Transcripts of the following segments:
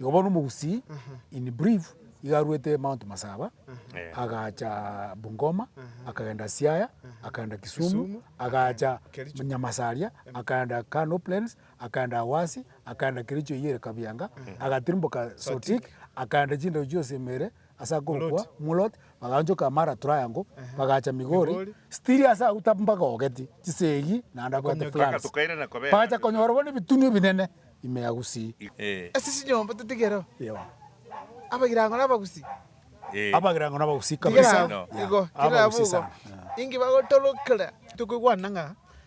Igo bono omogusii in brief iga aruete Mount Masaba agacha Bungoma akagenda Siaya akagenda Kisumu agacha Nyamasaria akagenda Kano Plains akagenda Awasi akagenda Kericho eywo ere Kabianga agatirimboka Sotik akagenda chindau chionsi Emere Ase agokwa Muloti baganchoka amara Troyango, bagacha Migori, Stiria ase agwo taba mbagogeti chisegi naende abwate floods. Bagacha konyorwa nebitunwa ebinene ime ya Gusii. Ase chinyomba totigereo abagirango na abagusii. Abagirango na abagusii kabisa. Tigerao igo, tigerao igo. Inki bagotorokera? Tokoigwana ng'a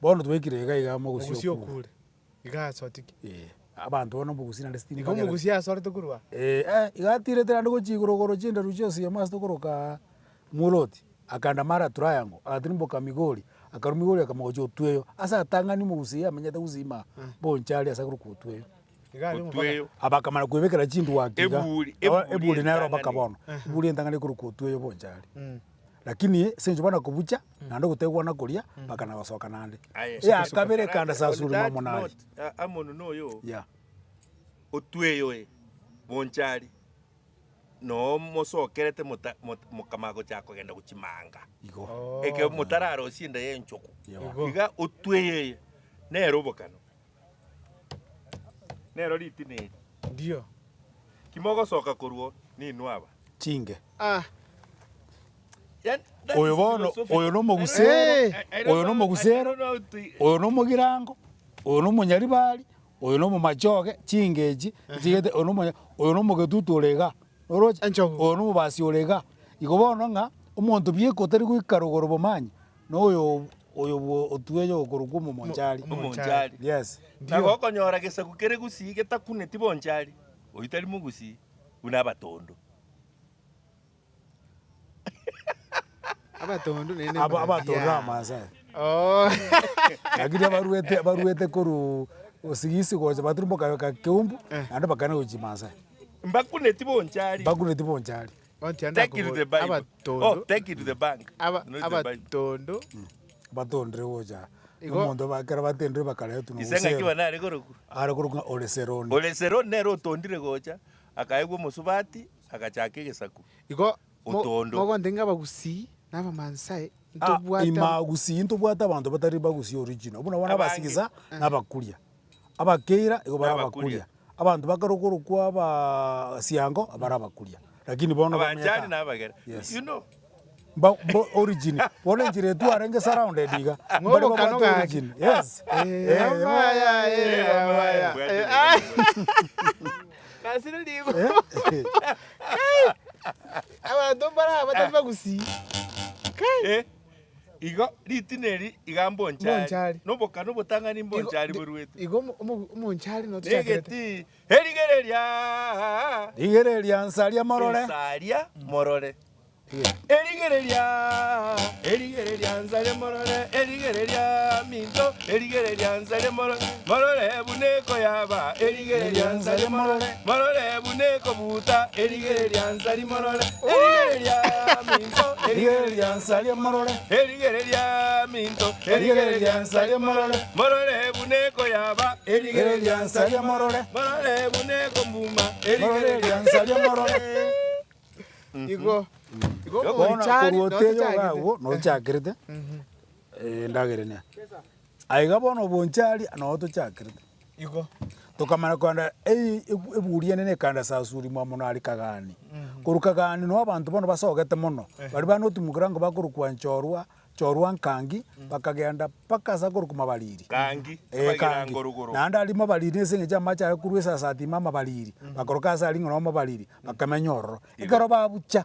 Bono twaikire iga iga mogosi Mogosi okure. okure. Iga asotiki. Eh, abanto bono omogusi naende stimi Igo bagere- omogusi asorete korwa. Eh, eh, iga atirete naende gochia igoro goro chinderu chionsi ime ase tokorokaa, mworotia, akaenda mara ya triangle, agatirimboka migori, akarwa migori akamogochia otueyo, ase atang'ani omogusi iga amenyete gusima, bonchari ase agorokwa otueyo. otweyo. Abakamara kwebekera chinduo ake iga, Eburi- nabo eburi eburi nero entang'ani. mpaka bono, Eh. eburi entang'ani ekorokwa otweyo bonchari. Lakini ase enchwa bono kobucha, naende ogotegwana koria, mpaka na gosoka naende. Aye, Eya soka, soka. kabere ekanda sa On suri that momo naye. note, a- amono noyo Yeah. otweyo oye bonchari noo mosokerete mota- mot- mokama gochaka kogenda gochimanga Igo. Oh. eke motararosie enda y'enchogu Igo. iga otweyo eye nere obokano Nero ritina eri. Ndio. Kimogosoka korwo ninwe aba. Chinge. Ah. Oyo bono, oyo nomogusero, oyo nomogusero, oyo nomogirango, oyo nomonyaribari, oyo nomomachoge, chingechi, chigete, oyo nomonya, oyo nomogetutu ore iga. Oroche? Enchogu. Oyo nomobasi ore iga. Igo bono ng'a omonto bieka otari goika rogoro bomanye, Noyo oyo bwo otueyo okorokwa omomonchari. Omonchari. Yes. Na gokonyora gesaku kere gusii getakuneti bonchari, oyio tari mogusii, buna abatondu. Abatondu naende Aba muna abatondu biaa. abamasai. Oh. Lakini abaruete abaruete korwa osigisi gocha baturumboka ka keumbu naende bakana gochia chimasai. Mbakuneti bonchari. Bakuneti bonchari. Take it to the Bible. Oh, take it to the bank. Not the Bible. abatondu batondire gocha Igo- nomonto ba- ekero batendire bakaretwa na Ise ng'aki Hosea. bana are koroku. are korokwa ore seroni Ore Seroni nere otondire gocha, akaegwa omosubati, agachaka egesaku. igo mo- Otondo. mogonte ng'a abagusii na abamansae Ah, ntobwate amo- imagusii ntobwate abanto batari bagusii original buna bono Abange. abasigisa na abakuria abakeira igo barabakuria, abanto bakorokworokwa abasiango barabakuria, lakini bono Abanchani na abagera. Yes. You know. Mba- mbo- origin bono enchera etwo arenge surrounded iga Ng'o mbare ogokano babwate gaki? origin yes Eh, Eh, amaya, eh, eh, amaya. Bwate Eh, ah. Nasire ligo. eh, Abanto mbare aba batari bagusii. Eh. Igo ritina eri iga mbonchari, nobokano obotang'ani mbonchari boruete, na egetii, Erigereria! Rigereria, nsaria morore. Nsaria morore. Erigereria! Erigereria, nsaria morore. Erigereria, minto. Erigereria, nsaria morore. Morore buna ekoyaba erigereria nsari morore, morore buna ekobuuta erigereria nsari morore, erigereria minto erigereria nsari morore, erigereria minto erigereria nsari morore, morore buna ekoyaba erigereria nsari morore, morore buna ekombuma erigereria nsari morore. Igo, igo Bono korwa omochari oteyo iga notachagete. agwo nochakerete, eh, endagera ene. Aiga bono obonchari anogo tochakerete. Igo. Tokamanya kogenda ei ebu- eburi enene ekaenda Sasuri mwamo nari Kagani. Korwa Kagani noo abanto bono basogete mono, baria banotimokera nko bakorokwa Nchorwa, Nchorwa Nkangi, bakagenda mpaka ase akorokwa Mabariri. Kangi, Eh, abagira Kangi. ngorogoro. Naende aria Mabariri ase eng'encho amache aye korwa esasati ime Amabariri, bakoroka ase aria ng'a no Mabariri, bakamenya ororo. Ekero babucha,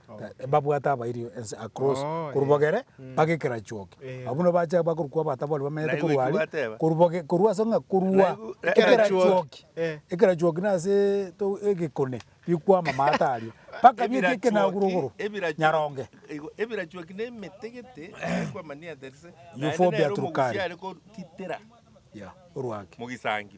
Mbabwate abairi ense across korwa bogere mpaka ekerachuoke. Abwo buna bache bakorokwa abatabori bamenyete korwa aria korwa boge korwa ase ng'a korwa ekerachuoki ekerachuoki nase to egekone bikwama amaate aria mpaka bieka ekenagure igoro nyaronge. Ebirachuoki na emete gete ekwamania there is naende nere omogusii are kogitera mogisangi.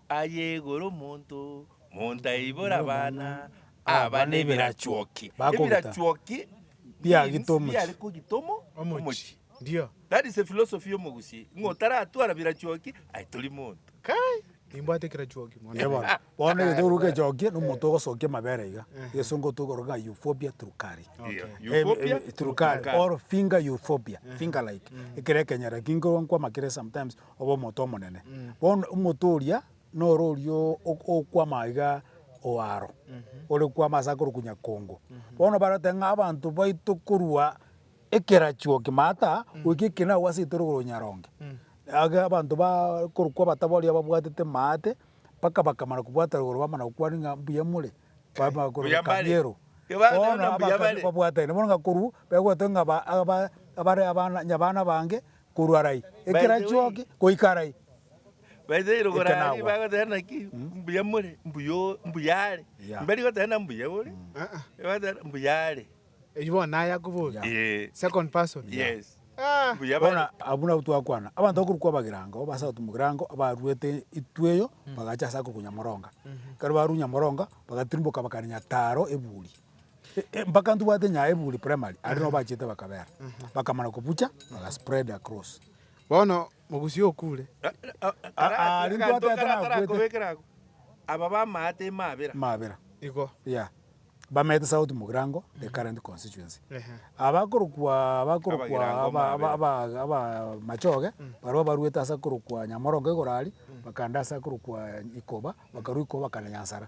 Aye igoro omonto montaibore abana aba nebirachuoki, ebirachuoki means biare kogita omo omochie. That is a philosophy ya omogusii, ng'a otaratwara birachuoki aye tori monto. Onde bono. Bono egento okoruga echoki nomonto ogosokia amabere iga. Egesongo tokoroka ng'a euphobia trucari. Euphobia trucari. Or finger euphobia, finger like. Ekero ekenyera kinkorwa nkwama kere sometimes Obe omonto omonene. Bono omonto oria noro oria okwama iga oaro, ore kwama ase akoru kunya kongo. Bono baroteba ng'a abanto baito korwa ekerachi o kimata goika ekina agwo ase etorogoro o nyaronge. Iga abanto ba koru kwa abatabori ababwatete maate mpaka bakamana kobwata rogoro bamana gokwania ng'a mbuya more. Mbuya mbare. Bono abakare babwatane bono ng'a korwa begotogia ng'a aba aba abare abana nyabana bange Korwa arai, ekera chioke, goika arai. Baise iro igoro aria bagoteba naki? Mbuya more, mbuya o, mbuya are. Mberi goteba na mbuya ore, bagoteba na mbuya are. Eyio bono naye akoboria. Ee. Second person. Yes. Ah! Mbuya bare. Bono abwo nabwo twakwana, abanto bakorwa kwa Bagirango, abasato Mogirango, abaruete itu eyio, bagacha ase akoruga Nyamoronga. Ekero barure Nyamoronga, bagatirimoka bakania Taro eburi. Mpaka ntobwate nyaya eburi primary aria no bachete bakabera bakamana kobucha baga spread across. Bono mogusi okure. Aria ntwate atarakwete. Aba bamaya timabera. Mabera. Igo. Yeah. Bamete south mogirango the current constituency. Abakorokwa abakorokwa aba machoge baria baruete ase korokwa nyamorongo igoro aria bakagenda ase korokwa ikoba bakarwa ikoba bakagenda nyansara.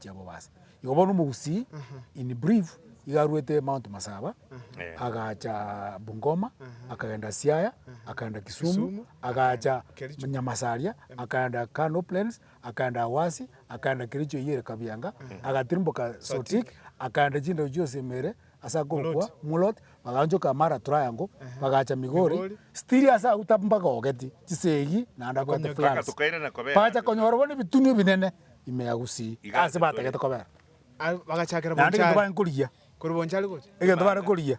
Jehobobasa. Igo bono omogusii in brief iga aruete Mount Masaba agacha Bungoma akagenda Siaya akagenda Kisumu agacha Nyamasaria akagenda Kano Plains akagenda Awasi akagenda Kericho eyio ere Kabianga agatirimboka Sotik akagenda chindau chionsi emeere ase agokwa Mulot baganchoka Mara Triangle bagacha Migori still ase agwo tabagogeti chisegi naende abwate plans bagacha konyora bono ebitunu ebinene. ime ya gusii, ase batagete kobera. Naende egento bare korigia, egento bare korigia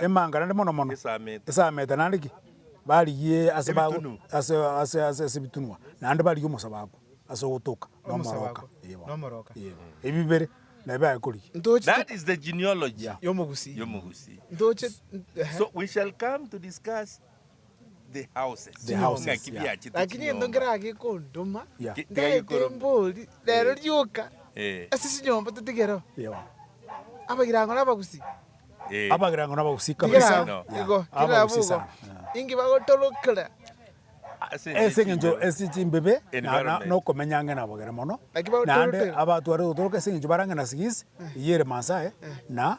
emanga naende mono mono esamete naende ki? Barigie ase ase ebitunwa naende barigie omosababu ase ogotoka na omoroka. Yebo. Ebi bibere nabio biaye korigia. Lakini gento nkeraa gekondoma, ntagete mbori, rero rioka ase chinyomba totigereo. Abagirango nabagusii. Abagirango nabagusii kabisa. Tigerao igo, tigerao bogo. Inki bagotorokera. Ase engencho ase chimbebe nokomenya ang'e nabo kere mono. Naende abatwarete gotoroka ase engencho bare ang'e na sigisi, eyere Masae na.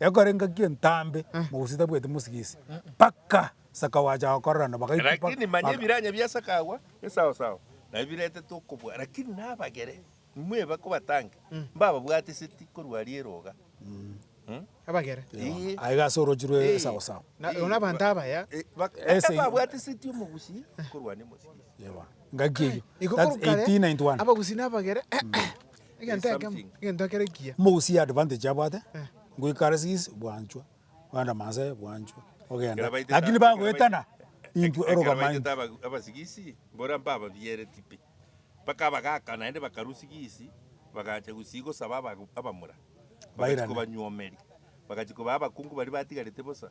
Ekorengaki entambe mogosi tabwati mosigisi, mpaka saka gwacha gokorerana bagaitwa mpaka Lakini manya ebiranya biasakagwa esaosao nabio biretetwe okobua, lakini nabagere inwe bakobatange, mbababwate eseti korwa riero iga. Mh. Abagere. Ii. aiga ase orochi rwe Ii. esaosao. Na Ii. na abanto abaya. Ii. Bak- Ese- mpaka babwate eseti omogusi korwa ande mosigisi. Yebo. Ngaki eyio. Igo That's korwa kare, 1891. abagusi na abagere egento ekemo, egento ekero ekiya. Mogusie advantage abwate, ngoika RCs bwanchwa, ogenda Maasai bwanchwa, ogenda, lakini bagoetana intwe orogama intwe. Ekero baitete abasigisi, mbore mpababiereti pi, mpaka abagaka naende bakarwa sigisi, bagacha gusii gosaba aba abamura, bagachi Bairane. kobanywomeria, bagachi kobaa abakungu baria batigarete bosa,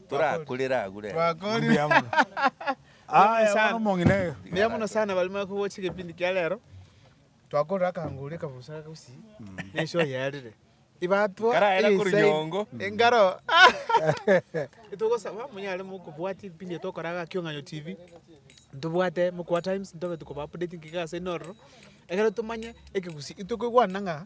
torakurera agure ere. Twakorire. Mbuya mono sana. Mbuya mono sana bari mare kogocha egepindi kia rero. Twakorire akangori akabusa aka gusii. Ne show yarire. Ibatwa. Karaera eye korwa side. nyongo. Engaro. Itogosaba monyare mokobwati ebipindi ebio tokora iga Kiong'anyo TV. Ntobwate Mokua Times ntobe tokoba updating iga ase enororo. Ekero tomanye ekegusii. Intwe koigwana ng'a.